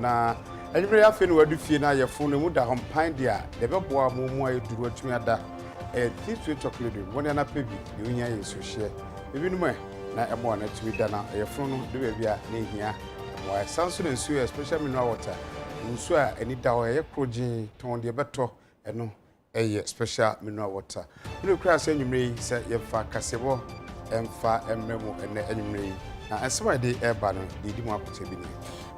Na anwummere yi afei na wadu fie na ayɛfo no mu da hɔ mpan de a, deɛ ɛbɛboa mo mu ayɛ duru atumi ada ɛyɛ thin sweet chocolate de mmɔne anapɛ bi deɛ ohia yɛ nsuohyeɛ. Ebinom ɛ na ɛmoa no atumi da na ɔyɛfo no de baabi a na ehia mmoa. Ɛsan so na nsuo yɛ special mineral water, nsuo a ani da hɔ, ɛyɛ koro gyenn, tɔn deɛ ɛbɛtɔ ɛno ɛyɛ special mineral water. Wo ne kura sɛ anwummerɛ yi sɛ yɛmfa kaseɛbɔ ɛmfa ɛmmerɛ mo ɛnɛ anwummerɛ yi. Na ɛnsɛm a yɛde ɛreba no, deɛ ɛdi mu akokyɛ bi nie.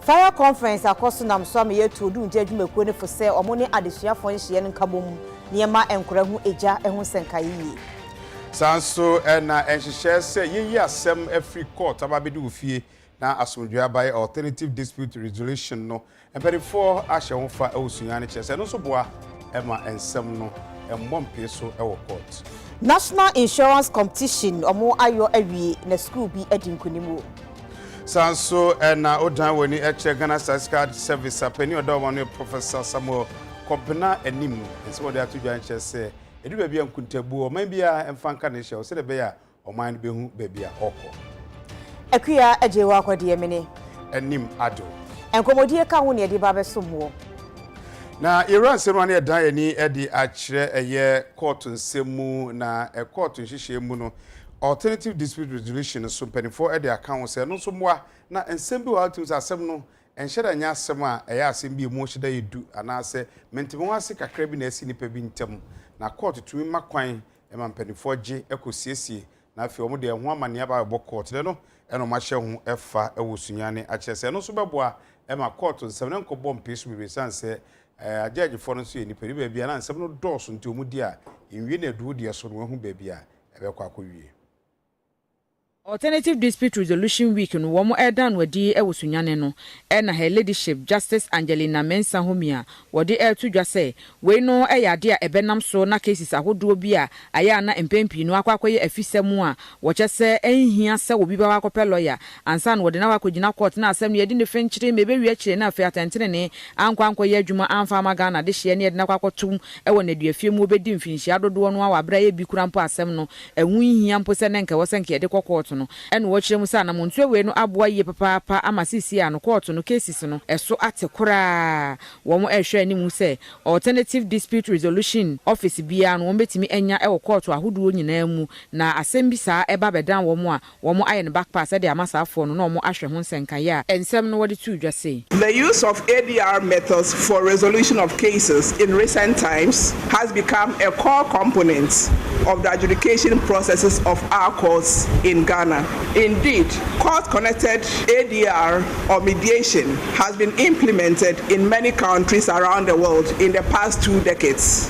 Fire Conference akɔ so nam so ama yɛatu odumgya adwumakuo no fo sɛ wɔn ne adesuafoɔ nhyeɛ no nkabom na yɛmma nkwadaa hu egya ho nsɛnka yie. Saa nso na nhyehyɛɛ sɛ yɛyi asɛm afiri court aba abɛdi wo fie na asomdwoeɛ abaeɛ, Alternative Dispute Resolution, no Mpanimfoɔ ahyɛ wo fa wɔ sunya no kyerɛ sɛ ɛno nso boa ma nsɛm no mmɔ mpee so wɔ court. National Insurance Competition ɔmo ayɔ awie na sukuu bi adi nkunim o. Saa nso na wodan w'ani kyerɛ Ghana Statistical Service a panin a ɔda wɔn ano yɛ Professor Samuel Kɔbena anim. Nsɛm a ɔde ato dwa no kyerɛ sɛ ɛduru baabi a nkuntabuo, ɔman biara mfa nka ne hyew sɛdeɛ ɛbɛyɛ a Ɔman no bɛhu baabi a ɔrekɔ. Akua agye wo akɔ deɛ mene. Anim adwo. Nkɔmmɔdie ka ho na yɛde ba abɛsom woɔ. Na yɛwura nsɛm a na yɛdan yɛn ani de akyerɛ ɛyɛ kɔɔto nsɛm mu, na kɔɔto nhyehyɛeɛ mu no, Alternative Dispute Resolution no so mpanimfoɔ de aka ho sɛ ɛno nso mmoa. Na nsɛm bi wɔ hɔ a wotumi sɛ asɛm no nhyɛ da nyɛ asɛm a ɛyɛ asɛm bi a emu hyɛ da yɛ du anaasɛ mentemeho ase kakra bi na asi nnipa bi ntam, na kɔɔto tumi ma kwan ɛma mpanimfoɔ gye kɔsiesie na afei wɔn deɛ ɛho amanneɛ aba abɛbɔ kɔɔt no no na wɔn ahyɛ ho fa wɔ sunya ne akyerɛ sɛ ɛno nso bɛboa ma kɔɔt nsɛm no nkɔbɔ mpee so bebree ɛsiane sɛ agyɛɛgyefoɔ no nso yɛ nnipa ne baabi a na nsɛm no dɔɔso nti wɔn di a nwie na aduru deɛ so no wɔahu baabi a ɛbɛkɔ akɔwie. Alternative Dispute Resolution Week no wɔn ɛreda no adi wɔ Sunyani no ɛna Her Ladyship Justice Angelina Mensah homia wɔde ɛreto dwa sɛ wei no ɛyɛ adeɛ a ɛbɛnam so na cases ahodoɔ bi a ayɛ a na mpɛn pii no akɔ akɔyɛ afisɛm a wɔkyɛ sɛ ɛnhia sɛ obi bɛkɔ akɔpɛ lawyer ansa na wɔde no akɔ akɔgyina court na asɛm no yɛdi no fenkyere ma ɛbɛwie akyire na afei atɛntenenee ankɔ ankɔyɛ adwuma amfa amma Ghana dehyeɛ na yɛde no akɔ akɔto wɔ nnaduafie mu wɔbɛdi mfinhyia dodoɔ no ara wɔ aberɛ a ɛyɛ bi koraa mpo a asɛm no Ɛho nhia mpo sɛ na anka ɛwɔ sɛ anka yɛde kɔ kɔɔto no. Ɛnna wɔkyerɛ mu sɛ anammɔntu awiei no aboa yiye papaapa ama seesei a no kɔɔto no cases no so ate koraa. Wɔrehwɛ anim sɛ Alternative Dispute Resolution Office biara no wɔbetumi anya wɔ kɔɔto ahodoɔ nyinaa mu, na asɛm bi saa ba bɛdan wɔn a, Wɔn ayɛ no back pass de ama saa foɔ no na wɔn ahwɛ ho nsɛnka yɛ a nsɛm no wɔde too dwa sei. The use of ADR methods for resolution of cases in recent times has become a core component of the adjudication processes of our courts in Ghana. Indeed, court-connected ADR or mediation has been implemented in many countries around the world in the past two decades.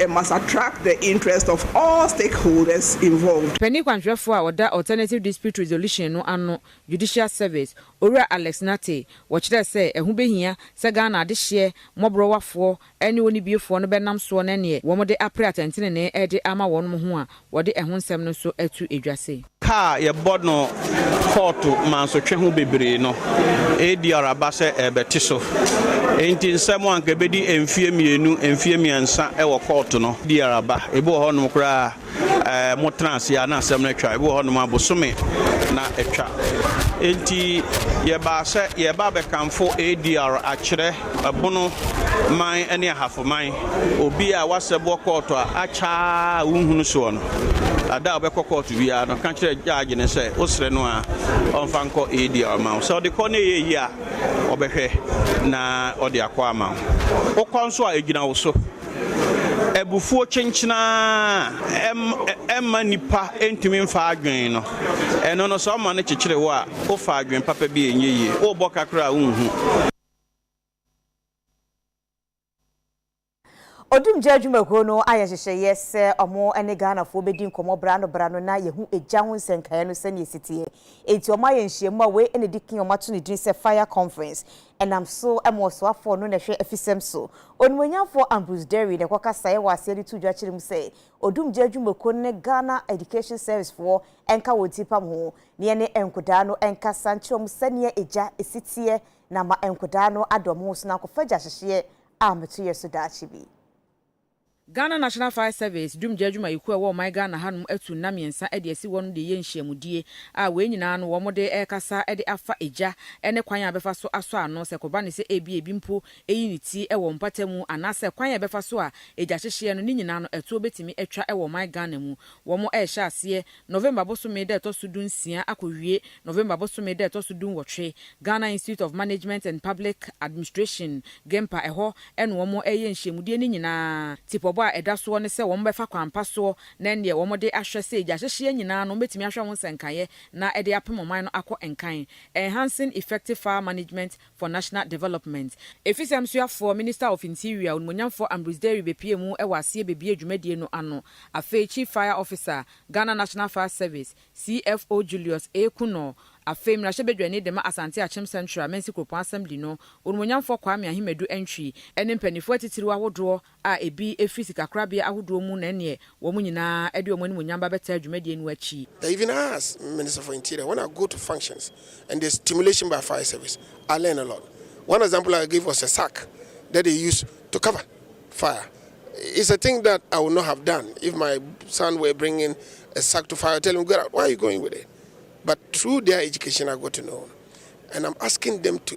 It must attract the interest of all stakeholders involved. Panyin kwanhwɛfo a ɔda Alternative Dispute Resolution no ano, Judicial Service, Owura Alex Nartey, wɔkyerɛɛ sɛ ɛho behia sɛ Ghana adehyeɛ mmɔborɔwafoɔ ne onibiefoɔ no bɛnam soɔ na ɛneɛ wɔde apere atɛntenenee de ama wɔnom ho a Wɔde ɛho nsɛm no nso ato edwa se. Ka a yɛbɔ no kɔɔto mansotwe ho bebree no, ADR aba sɛ ɛrebɛte so. Enti nsɛm a anka ebedi mfeɛ mmienu, mfeɛ mmiɛnsa wɔ kɔɔto no, ADR aba. Ebi wɔ hɔnom koraa a, motena ase ara na asɛm no atwa. Ebi wɔ hɔnom a, bosome na atwa. Enti yɛbaa sɛ yɛreba abɛkamfo ADR akyerɛ. Ɛpono, man ne ahafo man. Obi a w'asɛ boɔ kɔɔto a akya a wonhunu soɔ no, ada a wobɛkɔ kɔɔto biara no ka kyerɛ judge no sɛ wosrɛ no a ɔmfa nkɔ eedi a ɔma wo. Sɛ ɔde kɔ na ɛyɛ yie a ɔbɛhwɛ na ɔde akɔ ama wo. Wokɔ nso a ɛgyina wo so. Abufuo kyenkyena a ɛmma nnipa ntumi mfa adwene no, ɛno no sɛ ɔma no kyekyere wo a wofa adwene papa bi a ɛnyɛ yie. Wobɔ ka koraa a wonhu. Odumgya adwumakuo no ayɛ nhyehyɛeɛ sɛ wɔn ne Ghanafoɔ bɛdi nkɔmmɔ berɛ ano berɛ ano na yɛahu egya ho nsɛnkaeɛ no sɛdeɛ ɛsi teɛ. Enti wɔayɛ nhyiamu a wei na ɛdi kan a wɔato no din sɛ Fire Conference. Ɛnam so ma ɔsoafoɔ no na ɛhwɛ afisɛm so. Onimuonyamfoɔ Ambrose Derry na ɛkɔkasaeɛ wɔ aseɛ de too dwa kyerɛɛ mu sɛ Odumgya adwumakuo no ne Ghana Education Service foɔ nka wɔn ti mpam ho na yɛne nkodaa no nkasa nkyerɛ wɔn sɛdeɛ egya si teɛ na ama nkwadaa no ada wɔn ho so na akɔfa gyahyehyeɛ a meto yɛ so daakye bi. Ghana National Fire Service Dumgya Adwumayɛkuo a ɛwɔ ɔman Ghana ha nom atu nna mmiɛnsa de asi hɔ nom de reyɛ nhyiamudie a wei nyinaa no wɔn de rekasa de afa egya ne kwan a ɛbɛfa so asɔ ano sɛ kɔba ne sɛ ebia ebi mpo eyi ne ti wɔ mpata mu anaasɛ kwan a ɛbɛfa so a egyahyehyeɛ no ne nyinaa no ɛtoɔ bɛtumi atwa wɔ ɔman Ghana mu wɔn rehyɛ aseɛ November bosome da ɛtɔ so dunsia akɔwie November bosome da ɛtɔ so dunwɔtwe. Ghana Institute of Management and Public Administration, GIMPA, ɛhɔ na wɔn reyɛ nhyiamudie no nyinaa. Tipɔbɔ a ɛda soɔ ne sɛ wɔn bɛfa kwan pa soɔ na ɛnneɛ wɔn de ahwɛ sɛ gya hyehyeɛ nyinaa no wɔbɛtumi ahwɛ ho nsɛnkaeɛ na ɛde apem ɔman no akɔ nkan. Enhancing Effective Fire Management for National Development, Afisɛm Soafoɔ, Minister of Interior, Onimonyamfoɔ Ambrose Derry bepue mu wɔ aseɛ bebue dwumadie no ano. Afei Chief Fire Officer, Ghana National Fire Service, CFO Julius A. Kunoor, afei Mmarahyɛbadwani dema Asante Akyem Central Mensi Kuropɔn Assembly no, Onimonyamfoɔ Kwame Ahimadu Antwi, ne mpaninfoɔ atitiriw ahodoɔ a ebi fi sikakorabea ahodoɔ mu na ɛneɛ wɔn nyinaa de wɔn animuonyam ba bɛtaa dwumadie no akyi. They even ask Minister for Interior when I go to functions and there's stimulation by fire service, I learn a lot. One example I gave was a sack that they use to cover fire. It's a thing that I would not have done if my son were bringing a sack to fire, tell him get out, where are you going with it? But through their education I got to know and I'm asking them to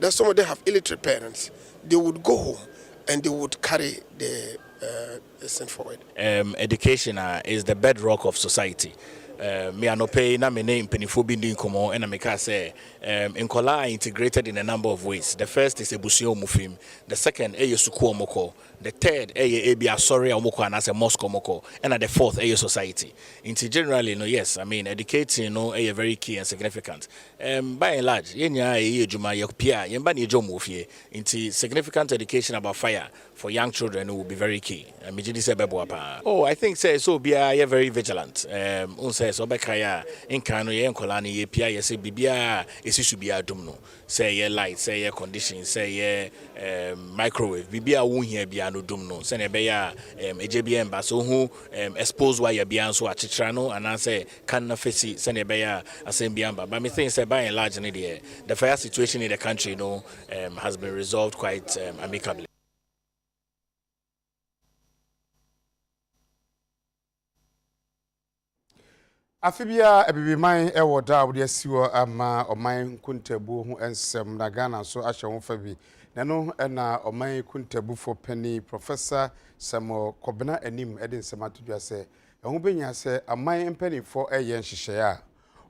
Then some of them have illiterate parents, they would go home and they would carry the uh, sin forward. Um, education uh, is the bedrock of society. Uh, me anɔpɛ yi na me ne mpanimfoɔ bi ndi nkɔmmɔ ɛna meka sɛ um, nkɔla are integrated in a number of ways the first is abusua ɔmu fim the second ɛyɛ sukuu ɔmokɔ The third yɛ ebia asɔre a wɔkɔ anaasɛ mosque a wɔkɔ, ɛna the fourth yɛ society. Nti generally no yes, I mean educating no yɛ very key and significant. Erm by and large yɛn nyinaa yɛyɛ adwuma, yɛpue a, yɛn mma na yɛgye wɔn wɔ fie. Nti significant education about fire for young children no will be very key. Megye di sɛ ɛbɛboa paa. Oh I think sɛ ɛsɛ obiara yɛ very vigilant. Erm wohu sɛ sɛ wobɛkae a, nkan no yɛyɛ nkwadaa no yɛpue a yɛsɛ biribiara a ɛsi so biara dum no. Sɛ ɛyɛ light, sɛ ɛyɛ condition, sɛ ɛyɛ ɛɛm microwave, biribi a wonhia biara no dum no sɛnea ɛbɛyɛ a ɛɛm egya biara mba. Sɛ ohu ɛɛm exposed wire biara nso a, kyekyera no anaasɛ ka no fa si sɛnea ɛbɛyɛ a asɛm biara mba. But me think sɛ by and large no deɛ, the fire situation in the country no ɛɛm has been resolved quite ɛɛm amicably. Afe biara Abibiman wɔ da a wɔde asi hɔ ama ɔman nkontabuo ho nsɛm na Ghana nso ahyɛ ho fa bi. Na ɛno na ɔman kontabufo panin Professor Samuel Kobena anim de nsɛm ato dwa sɛ ɛho bɛhia sɛ aman mpanimfoɔ yɛ nhyehyɛeɛ a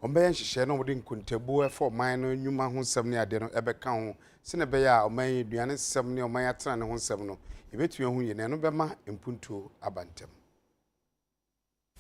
Wɔbɛyɛ nhyehyɛe na wɔde nkontabuo ɛfa ɔman no nnwuma ho nsɛm ne adeɛ no ɛbɛka ho sɛdeɛ ɛbɛyɛ a ɔman yi aduane nsɛm ne ɔman atenane ho nsɛm no yɛbɛtumi ahu yie na ɛno bɛma mpuntuo aba ntɛm.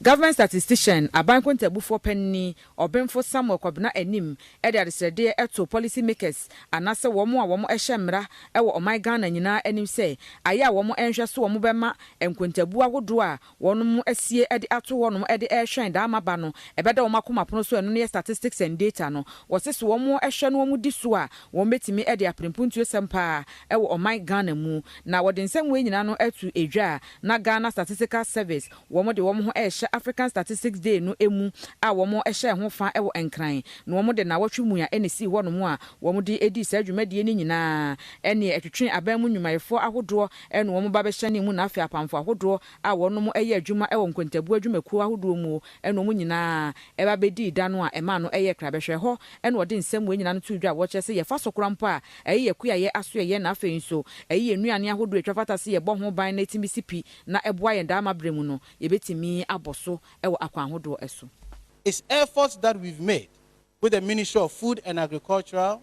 Government Statistician, Aban Kontabufoɔ Panini, Ɔbenfo Samuel Kɔbena Anim de adesrɛdeɛ too policy makers anaasɛ wɔn a wɔn hyɛ mmra wɔ ɔman Ghana nyinaa anim sɛ ayɛ a wɔn nhwɛ so wɔn bɛma nkontabuo ahodoɔ a wɔnom asie de ato hɔnom de rehwɛn daa maba no ɛbɛda wɔn akoma pono so ɛno ne statistics and data no wɔse so wɔn hwɛ na wɔn di so a wɔn bɛtumi de apere mpuntuosɛm paa wɔ ɔman Ghana mu na wɔde nsɛm wei nyinaa no ato dwa a na Ghana statistical service wɔn de wɔn ho rehyɛ African statistics day no mu a wɔn hyɛɛ ho fa wɔ Nkran na wɔn de nnawɔtwe mu a ɛna ɛsii hɔnom a wɔn de dii saa dwumadie no nyinaa ɛneɛ ɛtwetwee aban mu nnwumayɛfoɔ ahodoɔ ɛne wɔn ba bɛhyɛne mu na afei apamfo ahodoɔ a wɔnom yɛ adwuma wɔ nkontabuo adwumakuo ahodoɔ mu ne wɔn nyinaa ba bɛdii da no a ɛmaa no yɛɛ kra bɛhwɛ ɛhɔ na wɔde nsɛm wei nyinaa no too dwa a wɔkyerɛ sɛ yɛfa so kora mpo a ɛyɛ yɛ kuayɛ asoɛyɛ na afei nso ɛyɛ yɛ nnuane ahodoɔ a ɛtwa fata sɛ yɛbɔ ho ban na ɛtumi si pi na ɛboa yɛn daa ma berɛ mu no yɛbɛtumi abɔ so wɔ akwan ahodoɔ so. It's efforts that we've made with the Ministry of Food and Agricultural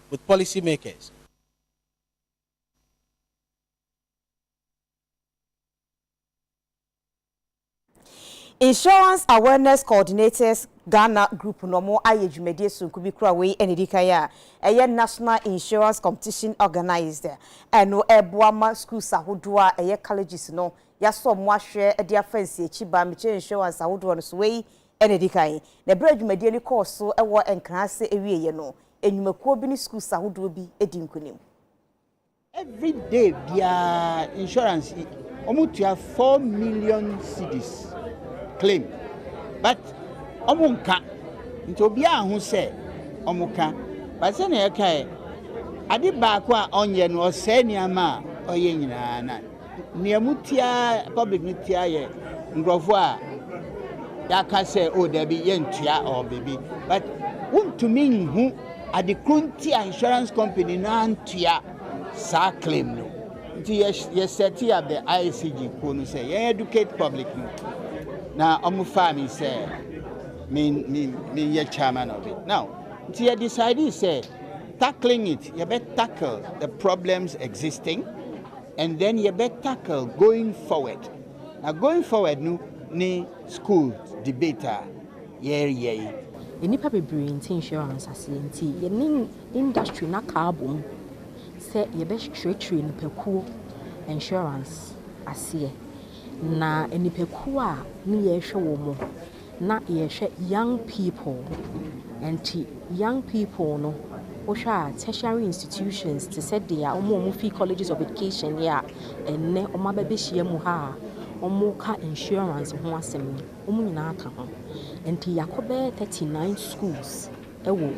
with policy makers. Insurance Awareness Coordinators Ghana Group na wɔayɛ dwumadie sononko bi kura wei na ɛdikan a ɛyɛ National Insurance Competition Organized ɛno ɛreboa ma schools ahodoɔ a ɛyɛ colleges no yɛasɔ wɔn ahwɛ de afa nsiakyi ba mekyɛ insurance ahodoɔ no so wei na ɛdikan na ɛberɛ a dwumadie no kɔɔ so wɔ Nkran ase ɛwieɛ no nnwumakuo bi ne schools ahodoɔ bi di nkunim. Every day biara insurance yi wɔn tua four million cedis claim but wɔn nka nti obiara ho sɛ wɔn ka but sɛnea ɛkaɛ ade baako a ɔnyɛ no ɔsɛe nneɛma a ɔyɛ nyinaa na. nea mu tiaa public no tiaa yɛ nkurɔfoɔ a yɛaka sɛ o oh, dabi yɛntua ɔɔ biribi but wontumi nhu ade koro nti a insurance company no antua saa claim no nti yɛsɛte up the ICG kuo no sɛ yɛn educate public no na wɔfaa me sɛ menyɛ chairman of it now nti yɛ decide sɛ tackling it yɛbɛ tackle the problems existing and then yɛbɛ tackle going forward na going forward no ne school debate a yɛreyɛ yi. Nnipa bebree nte insurance aseɛ nti yɛne industry no aka abom sɛ yɛbɛkyerɛkyerɛ nnipakuo insurance aseɛ na nnipakuo a ne yɛrehwɛ wɔn. na yɛhwɛ young people nti young people no wohwɛ a tertiary institutions te sɛ deɛ a wɔn a wɔn firi colleges of education yɛ a ɛnnɛ wɔn aba bɛ hyia mu ha a wɔn ka insurance ho asɛm no wɔn nyinaa ka ho nti yɛakɔ bɛyɛ thirty nine schools ɛwɔ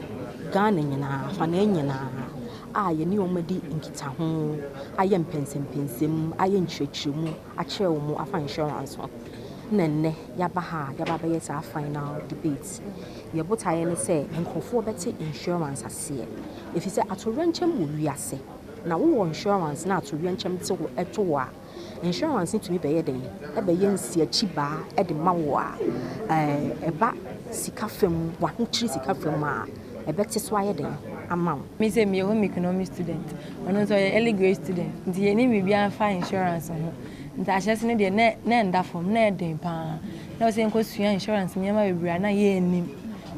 Ghana nyinaa afanee nyinaa a yɛne wɔn adi nkita ho ayɛ mpɛnsɛmpɛnsɛm ayɛ nkyerɛkyerɛmu akyerɛ wɔn afa insurance ho na ɛnnɛ. yɛaba ha a yɛaba abɛyɛ saa final debate yi. Yɛn botaeɛ ne sɛ nkorɔfoɔ bɛte insurance aseɛ. Ɛfiri sɛ atoyerɛnkyɛm wɔ wiase. Na wo wɔ insurance na atoyerɛnkyɛm te wo to wo a, insurance no tumi bɛyɛ dɛn? Ɛbɛyɛ nsiakyi baa de ma wo a, ɛɛ ɛba sika fam, w'ahokyiri sika fam a. ɛbɛte so ayɛ den ama wo. Me sɛ meyɛ home economics student, ɔno nso ɔyɛ early grade student nti yɛnim biribiara fa insurance ho. Nti ahyɛse no deɛ na ɛnda fam, na ɛyɛ den pa ara. Na ɛwɔ sɛ yɛkɔsua insurance nneɛma bebree a na yɛnnim.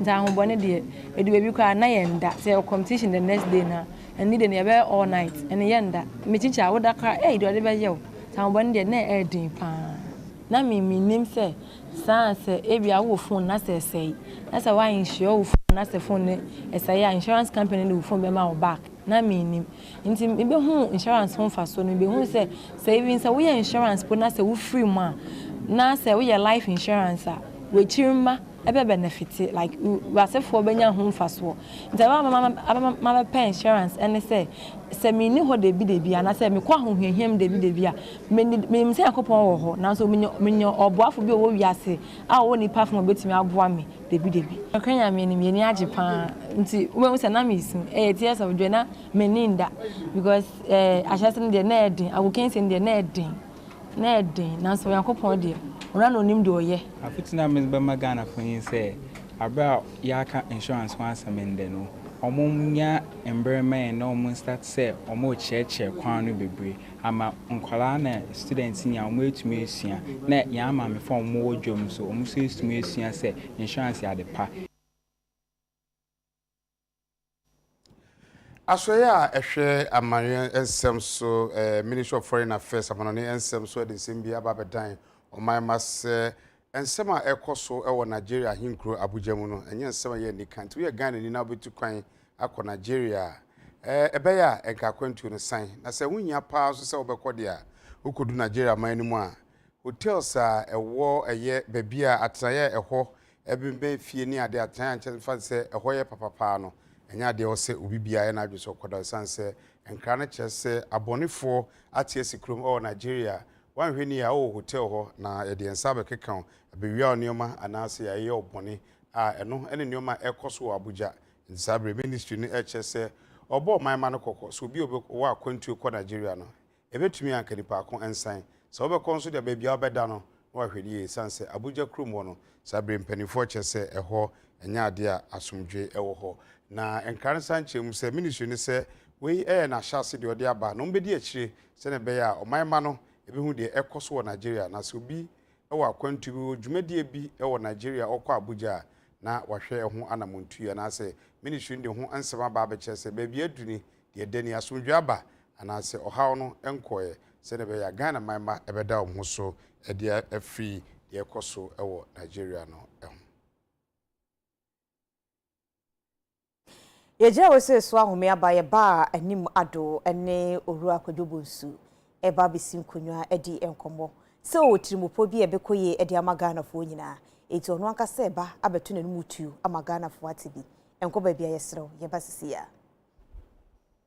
Nti ahobɔne deɛ, ɛdu baabi koraa na yɛnda. Sɛ yɛwɔ competition the next day no a, ɛnne deɛ no yɛbɛyɛ all night, ɛnne yɛnda. Mekyinkyin a, woda koraa a, ei deɛ ɔde bɛyɛ wo. Nti ahobɔne deɛ na ɛyɛ den pa ara. Na me mennim sɛ saa a sɛ ebia wowɔ phone na sɛ ɛsɛe na sɛ woa insure wo phone na sɛ phone no ɛsɛe a insurance company no de wo phone bɛma wo back na mennim nti mebɛhu insurance ho mfasoɔ no mebɛhu sɛ sɛ even sɛ woyɛ insurance po na sɛ wofiri mu a na sɛ woyɛ life insurance a w'akyiri mma ɛbɛ benefit like w'asefoɔ bɛnya ho mfasoɔ nti ɛbɛma mabɛpɛ insurance ɛne sɛ sɛ menni hɔ dabi dabi anaasɛ mekɔ ahohiahia mu dabi dabi a Me de, minim sɛ Nyankopɔn wɔ hɔ, nanso minya, minya ɔboafo bi a ɔwɔ wiase a ɔwɔ nnipa fam a obetumi aboa me dabidabi. Nokware Nyame anim, yɛn ani agye paa. Nti, wubehu sɛ na mesu. Ɛyɛ tears of joy. Na minni nda, because eh, ahyɛse no deɛ, na ɛyɛ den. Agokansie no deɛ, na ɛyɛ den. Na ɛyɛ den, nanso Onyankopɔn deɛ, Ɔno ara na Onim deɛ Ɔyɛ. Afotu no a medze bɛma Ghanafo nye sɛ, aber a yɛaka insurance ho asɛm ndɛ no, wɔnnya mber mma hɛn na wɔnstart sɛ wɔrekyerɛkyerɛ kwan no beberee. ama nkwadaa na students nyinaa wɔn atumi asua na yɛn amaamefo a wɔwɔ dwom nso wɔn nso atumi asua sɛ insurance yɛ ade pa. Asoɛeɛ a ɛhwɛ amanyɔɛ nsɛm so, Ministry of Foreign Affairs, amanɔne nsɛm so de nsɛm bi aba abɛdan ɔman ma sɛ Nsɛm a ɛrekɔ so wɔ Nigeria ahenkuro Abuja mu no, ɛnyɛ nsɛm a ɛyɛ anika. Nti woyɛ Ghanani na wobɛtu kwan akɔ Nigeria a, ɛbɛyɛ a nka akwantuo no san. Na sɛ wohia paa nso sɛ wobɛkɔ deɛ a, wokɔdu Nigeria man no mu a, hotels a ɛwɔ ɛyɛ baabi a atenaeɛ a ɛhɔ bɛnbɛn fie ne adeɛ, atenaeɛ a nkyɛ mfa sɛ ɛhɔ yɛ papa paa no, ɛnyɛ adeɛ a ɛwɔ sɛ obi biara yɛ n'adwene sɛ ɔkɔda. Ɛsiane sɛ nkra no kyerɛ sɛ abɔnefoɔ ate asi kurom wɔ Nigeria Woanhwɛ ni a, wowɔ hotɛl hɔ na yɛde yɛn nsa abɛkeka wo, abewia wo nneɛma anaasɛ yɛayɛ wo bɔne a, ɛno ne nneɛma a ɛrekɔ so wɔ Abuja. Enti saa bere yi, Ministry no rekyerɛ sɛ ɔrebɔ ɔman mma no kɔkɔ sɛ obi a ɔbɛwɔ akwantu rekɔ Nigeria no, ɛbɛtumi anka nnipa ako nsan. Sɛ wobɛkɔ nso de a, baabi a wobɛda no, na wahwɛ no yie esiane sɛ Abuja kurom hɔ no, saa bere yi mpaninfoɔ kyerɛ sɛ ɛhɔ nyɛ adeɛ a asomdwoe wɔ hɔ. Na nkra no san kyerɛ mu sɛ, Ministry no sɛ wei yɛ n'ahyɛase deɛ ɔde aba na wɔbɛdi akyire sɛnea ɛbɛyɛ a ɔman mma no behu deɛ ɛrekɔ so wɔ Nigeria, na sɛ obi wɔ akwantu bi, wɔ dwumadie bi wɔ Nigeria a ɔkɔ Abuja a, na wahwɛ ɛho anamontuie, anaasɛ Ministry no de ho nsɛm aba abɛkyerɛ sɛ baabi aduru ni, deɛ ɛda ni, asomdwoeɛ aba, anaasɛ ɔhaw no nkɔeɛ, sɛnea ɛbɛyɛ a Ghana man mma bɛda wɔn ho so de afiri deɛ ɛrekɔ so wɔ Nigeria no ho. Yɛgyina wesee so ahome aba yɛ ba a anim ado ne Owura Kwadwo Bonsu reba abɛsi nkonnwa adi nkɔmmɔ sɛ ɔwɔ tirimupɔ bi a ɛbɛkɔ yie de ama Ghanafoɔ nyinaa. Enti ɔno ankasa reba abɛto n'anom tuo ama Ghanafoɔ ate bi. Nkɔ baabi a yɛserɛ wo, yɛba sesei ara.